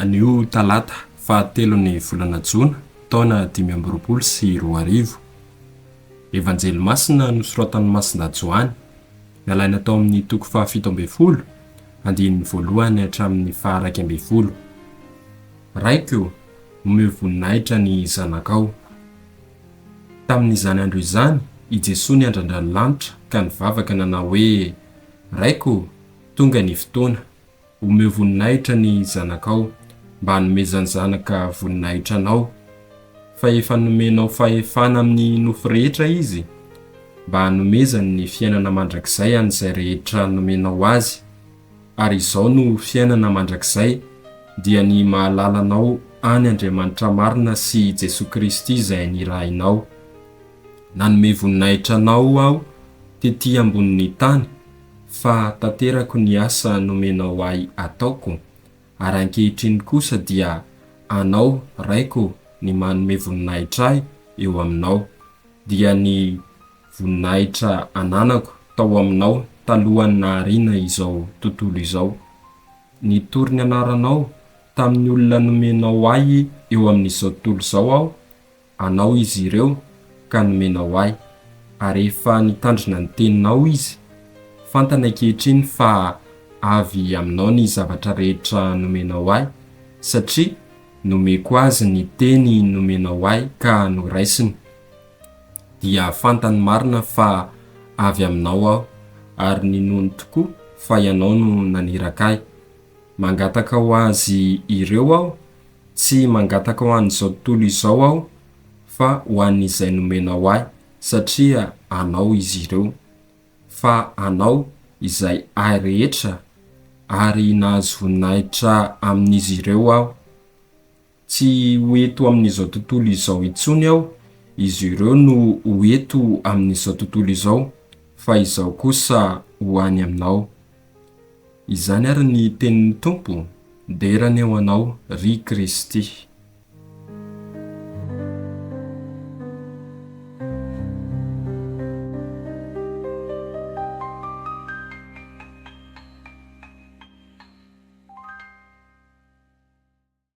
Anio talata fahatelon'ny volana jona taona dimy amby roapolo sy roa arivo. Evanjely masina nosoratan'i Masina Joany, nalaina tao amin'ny toko fahafito ambin'ny folo, andininy voalohany hatramin'ny faharaika ambin'ny folo. Raiko, omeo voninahitra ny zanakao. Tamin'izany andro izany, i Jesoa niandrandra ny lanitra ka nivavaka nanao hoe, Raiko ô, tonga ny fotoana. Omeo voninahitra ny Zanakao, mba hanomezan'ny Zanaka voninahitra Anao. Fa efa nomenao fahefana amin'ny nofo rehetra Izy, mba hanomezany ny fiainana mandrakizay an'izay rehetra nomenao Azy. ary izao no fiainana mandrakizay dia ny mahalala anao any Andriamanitra marina sy i Jesoa Kristy izay nirahinao. Nanome voninahitra anao aho tety ambonin'ny tany fa tanterako ny asa nomenao ahy ataoko, ary ankehitriny kosa dia anao Raiko ny manome voninahitra ahy eo aminao, dia ny Voninahitra ananako tao aminao talohan'ny nahariana izao tontolo izao. Nitory ny anaranao tamin'ny olona nomenao ahy eo amin'izao tontolo izao aho, anao izy ireo ka nomenao ahy, ary efa nitandrina ny teninao izy. Fantany ankehitriny fa avy aminao ny zavatra rehetra nomenao ahy, satria nomeko azy ny teny nomenao ahy ka noraisiny. dia fantany marina fa avy Aminao aho, ary ninoany tokoa fa Ianao no naniraka ahy. Mangataka ho azy ireo aho, tsy mangataka ho an'izao tontolo izao aho, fa ho an'izay nomenao ahy, satria Anao izy ireo. Fa Anao izay ahy rehetra, ary nahazo voninahitra amin'izy ireo aho. Tsy ho eto amin'izao tontolo izao intsony aho, izy ireo no ho eto amin'izao tontolo izao, fa izaho kosa ho any aminao. Izany àry ny tenin'ny Tompo, Dera anie ho anao, ry Kristy.